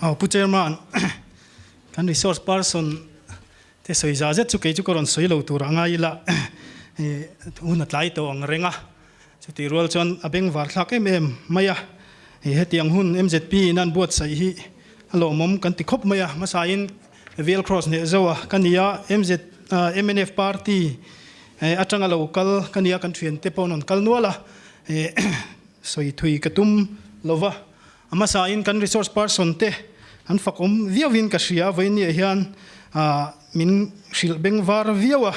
Aw Pu Chairman, kan resource person te sawi za zet chu kei chu ka rawn sawi lo tur a ngai ila hun a tlai tawh ang reng a, chutih rual chuan a beng var thlak em em mai a, hetiang hun MZP in an buatsaih hi a lawmawm kan ti khawp mai a, hmasain Vial Cross neh zo a ka nia, MZ MNF party atanga lo kal ka nia kan thiante pawh an rawn kal nual a, sawi thui ka tum lova A hmasain kan resource person te an fakawm viauin ka hria a, vawinia hian min hrilh beng var viau a,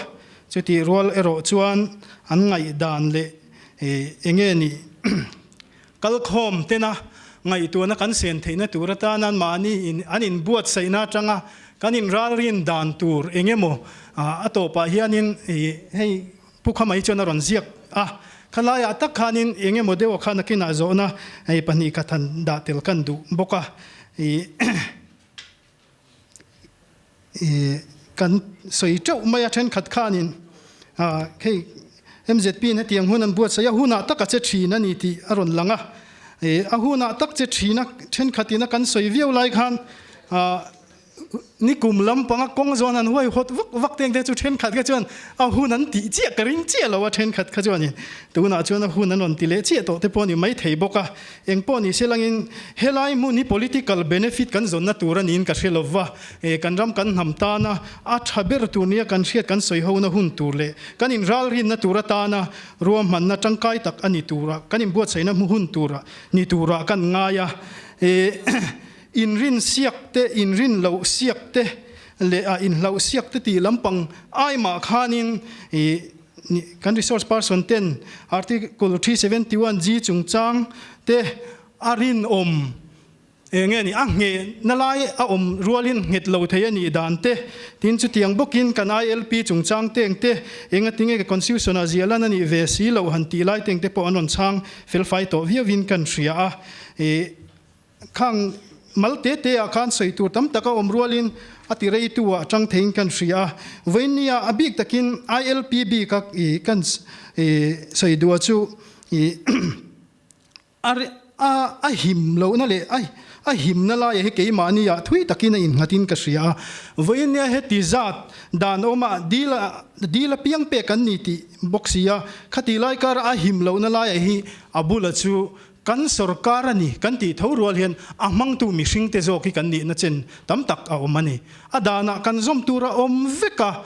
chutih rual erawh chuan an ngaihdan leh eng nge ni kalkhawm tena ngaihtuahna kan sen theihna tur atan an mahni an inbuatsaihna atanga kan inralrin dan tur eng emaw a tawpah hianin hei Pu Khamai chuan a rawn ziak a, kha laiah tak khanin eng emaw deuha khan a kinah zawhna hei pahnih khat han dah tel kan duh bawk a, kan sawi teuh mai a, thenkhat khanin hei mzp in hetiang hun an buatsaih a, hunah taka che thin a ni tih a rawn lang a, a hunah tak che thina thenkhatin a kan sawi viau lai khan Ni kum lampanga kawng zawn han huai hawt vak vak te ang te chu thenkhat kha chuan a hun an tih chiah ka ring chiah lo a, thenkhat kha chuan in tunah chuan a hun an rawn ti leh chiah tawh te pawh ni mai thei bawk a, eng pawh ni se langin helai hmun hi political benefit kan zawnna tur a niin ka hre lo va, e kan ram kan hnam tana a tha ber tur nia kan hriat kan sawi ho na hun tur leh kan in ralrin na tur atana ruahman na tangkai tak a ni tura kan in buatsaih na hun tura ni tura kan ngai a, e. Inrinsiakte, inrinlohsiakte leh a inhlauhsiakte tih lampang ai mah khanin kan resource person ten Article three seventy one G chungchang te a rinawm eng nge ni a ngheh na lai a awm rualin nghet lo thei a nih dan te. Tin, chutiang bawkin kan ILP chungchang te eng te engatin nge ka constitution ah ziah lan a nih ve si lo han tih lai te eng te pawh an rawn chhang felfai tawh viau in kan hria a. Khang mal te te ah khan sawi tur tam tak a awm rual in a ti rei tu ah tang thei in kan hria a, vawiin ni ah a bik tak in ILP bik a kan sawi duh chu a him loh na leh a him na lai ah hi keimah ni ah thui tak in a in nghat in ka hria a, vawiin nia heti zat dan awm ah dil a dil a piang pek an ni tih bawk si a, khati lai kar ah a him loh na lai ah hi a bul ah chu Kan sorkar a ni kan tih tho rual hian a hmangtu mihring te zawk hi kan nihna chen tam tak a awm a ni. A danah kan zawm tur a awm vek a,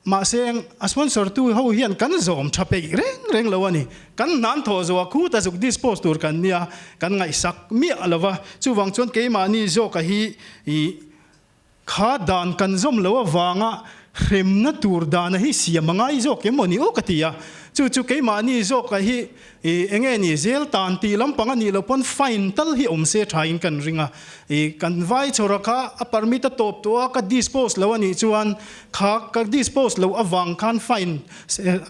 mahse a sponsor tu ho hian kan zawm tha peih reng reng lo a ni. Kan hnan thaw zo a, khu ta zuk dispose tur kan nia, kan ngaihsak miah lo va, chuvang chuan keimahni zawk a hi ih, Kha dan kan zawm lo avanga hremna tur dana hi siam a ngai zawk em awni aw ka ti a, chu chu keimahni zawkah hi i enge ni zel tan tih lampang a nih loh pawn fine tal hi awm se tha in kan ring a, i kan vai chawrah kha a permit a tawp tawh a ka dispose lo anih chuan kha ka dispose loh avang khan fine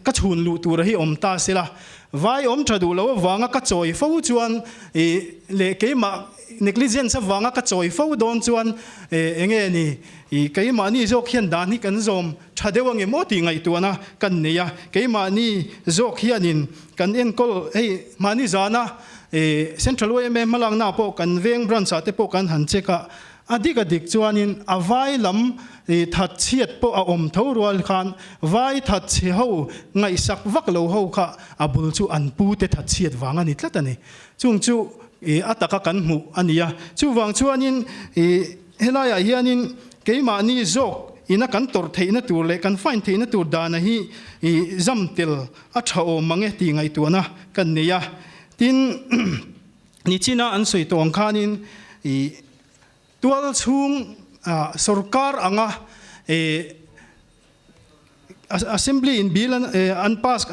ka chhun luh tur hi awm ta sela vai awm tha duh loh avanga ka chawi fo chuan i leh keimah Negligence avanga ka chawi fo dawn chuan eh enge ni ih keimahni zawk hian dan hi kan zawm tha deuh ange maw tih ngaihtuahna kan nei a, keimahni zawk hianin kan enkawl hei mahni zana eh Central OMA hmalaknaah pawh kan veng branch ah te pawh kan han check a, a dik a dik chuanin a vai lam ih that chhiat pawh a awm tho rual khan vai that chhi ho ngaihsak vak lo ho kha a bul chu an pu te that chhiat vang a ni tlat a ni. Chung chu ih a taka kan hmuh a ni a. Chuvang chuanin ih helaiah hianin keimahni zawk ina kan tawrh theihna tur leh kan find theihna tur dana hi ih zam tel a tha awm mange tih ngaihtuahna kan nei a. Tin, nichina an sawi tawng khanin ih. Tual chhung sorkar anga Assembly in bill an pass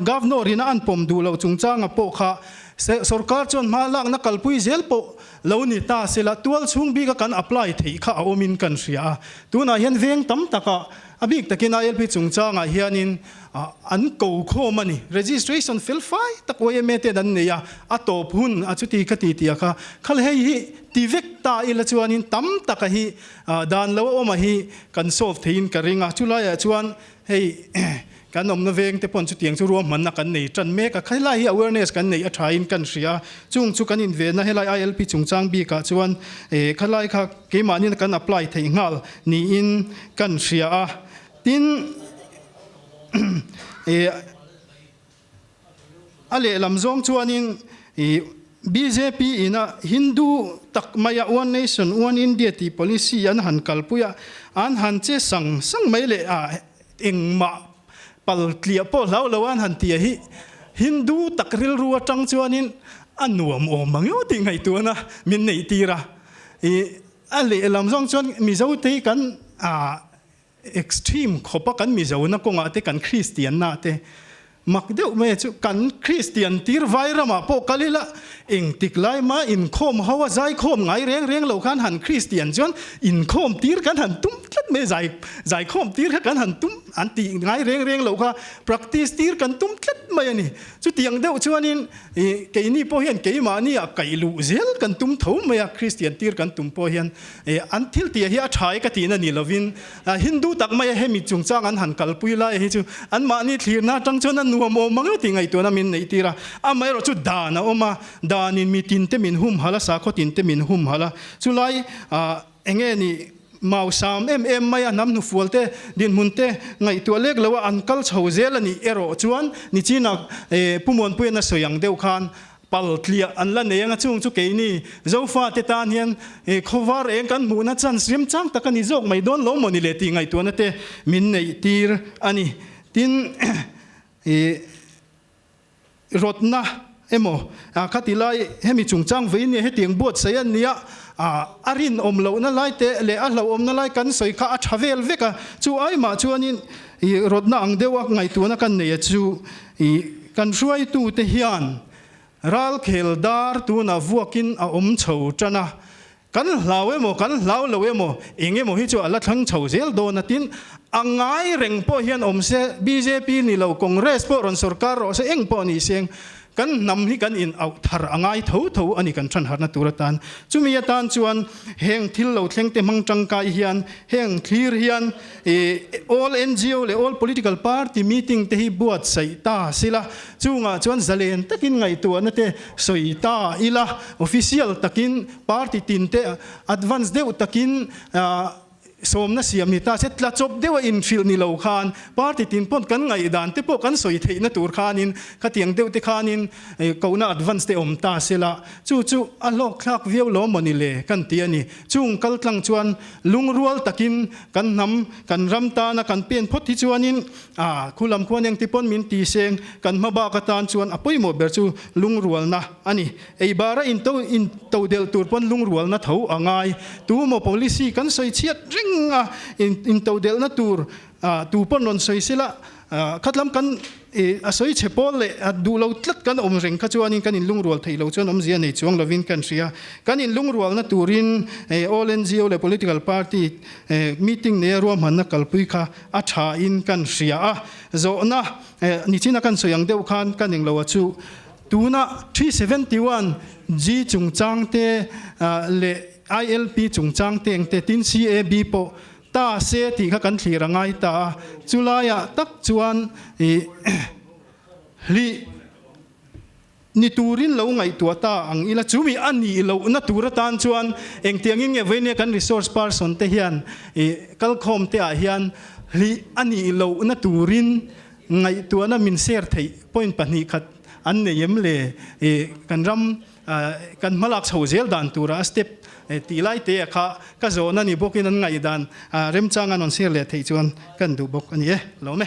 Governor in a an pawm duh loh chungchanga pawh kha sorkar chuan hma lakna kalpui zel pawh lo ni ta sela tual chhung bika kan apply theih kha a awmin kan hria a. Tunah hian veng tam taka a bik takin a lp chungchangah hianin. an ko khawm a ni. Registration fel fai tak YMA ten an nei a, a tawp hun a chuti ka ti tia kha. Khal hei hi ti vek ta ila chuanin tam taka hi dan lo a awm a hi kan solve theiin ka ring a. Chulaiah chuan hei kan awmna veng te pawn chutiang chu ruahmanna kan nei tan mek a. Helai hi awareness kan neih a thain kan hria a. Chung chu kan invenna helai ILP chungchang bikah chuan khalai kha keimahnin kan apply thei nghal niin kan hria a. Tin, i a lehlam zawng chuanin i bjp ina Hindu tak maia One Nation, One India tih policy an han kalpui a, an han che sang sang mai leh a, engmah pal tliah pawh hlau lo a an han tia hi Hindu tak rilru atang chuanin a nuam awm ang emaw tih ngaihtuahna min neih tir a, i a lehlam zawng chuan Mizote kan Extreme khawpa kan mizona kawngah te kan Kristiannah te mak deuh mai chu kan Kristian tir vai ramah pawh kal ila, engtik lai ma inkhawm ho a zai khawm ngai reng reng lo khan han Kristian chuan inkhawm tir kan han tum tlat mai zai zai khawm tir kha kan han tum an tih ngai reng reng lo kha practice tir kan tum tlat mai a ni. Chutiang deuh chuanin ih keini pawh hian keimahniah kaihluh zel kan tum tho mai a Kristian tir kan tum pawh hian. E, an thil tih hi a tha e ka ti na ni lovin, a, Hindu tak maia hemi chungchang an han kalpui lai hi chu anmahni thlirna atang chuan a nuam awm ang e tih ngaih tuna min neih tir a, amaherawh chu dan a awm a, danin mi tinte min humhalh a, sakhaw tinte min humhalh a, chulai, a, eng nge ni, mau sam em em maia hnam hnufual te, dinhmun te ngaihtuah lek loa an kal chho zel a nih erawh chuan nichina, e, Pu Muanpuiin a sawi ang deuh khan Paltliah an la nei ang a chung chu kei ni. Zofa te tan hian eh khawvar eng kan hmuhna chan rimchang tak a ni zawk mai dawn lo maw ni le tih ngaihtuahna te min neih tir a ni. Tin eh rawtna emaw ah kha ti lai hemi chungchang vei nia heti ang buatsaih a nia ah a rinawm lohna lai te leh a hlauhawmna lai kan sawi kha a tha vel vek a. Chu ai mah chuan in eh rawtna ang deuha ngaihtuahna kan nei a chu I, kan hruaitute hian ralkhel dar tunah vuakin a awm chho tan a, kan hlau emaw kan hlau lo emaw eng emaw hi chu a la thlang chho zel dawn atin a ngai reng pawh hian awm se, bjp ni lo, congress pawh rawn sorkar rawh se eng pawh ni seng kan hnam hi kan in auh thar a ngai tho tho a ni kan thanharhna tur atan. Chumi atan chuan heng thil lo thlengte hmang tangkai hian heng thlir hian I all NGO leh all political party meeting te hi buatsaih ta sila, chungah chuan zalen takin ngaihtuahna te sawi ta ila, official takin party tin te advance deuh takin sawmna siam ni ta se, tla chawp deuha inhrilh ni lo khan party tin pawn kan ngaih dan te pawh kan sawi theihna tur khanin khatiang deuh te khanin kohna advance te awm ta sela, chu chu a hlawkthlak viau lawm maw ni le kan ti a ni. Chung kal tlang chuan lung rual takin kan hnam kan ram tana kan pen phawt hi chuanin ah khu lam khuan engti pawn min ti seng, kan hma bak atan chuan a pawimawh ber chu lung rualna a ni. Ei bara in to in to delh tur pawn lung rualna tho a ngai. Tu maw policy kan sawi chhiat reng a, in in to delhna tur ah tu pawn rawn sawi sela, A khatlam kan ih a sawi chhe pawl leh a duh lo tlat kan awm reng kha chuanin kan inlungrual theih lo chuan awmzia nei chuang lovin kan hria. Kan inlungrualna turin ih all NGO leh political party ih meeting neia ruahmanna kalpui kha a thain kan hria a. Zawhna ih nichin a kan sawi ang deuh khan ka ning lo a chu tuna three seventy one G chungchangte ah leh ILP chungchangte engte tin CAB pawh Ta se tih kha kan thlir a ngai ta a, chu laiah tak chuan ih hlih ni turin lo ngaihtuah ta ang ila chumi a nih lohna tur atan chuan engtiangin nge vawi nia kan resource person te hian ih kal khawm te ah hian hlih a nih lohna turin ngaihtuahna min share theih point pahnih khat an nei em le ih kan ram Kan hmalak chho zel dan tura a step tih lai te ah kha ka zawhna ni bawk in an ngaih dan remchang an rawn share leh theih chuan kan duh bawk a ni e. Lo me?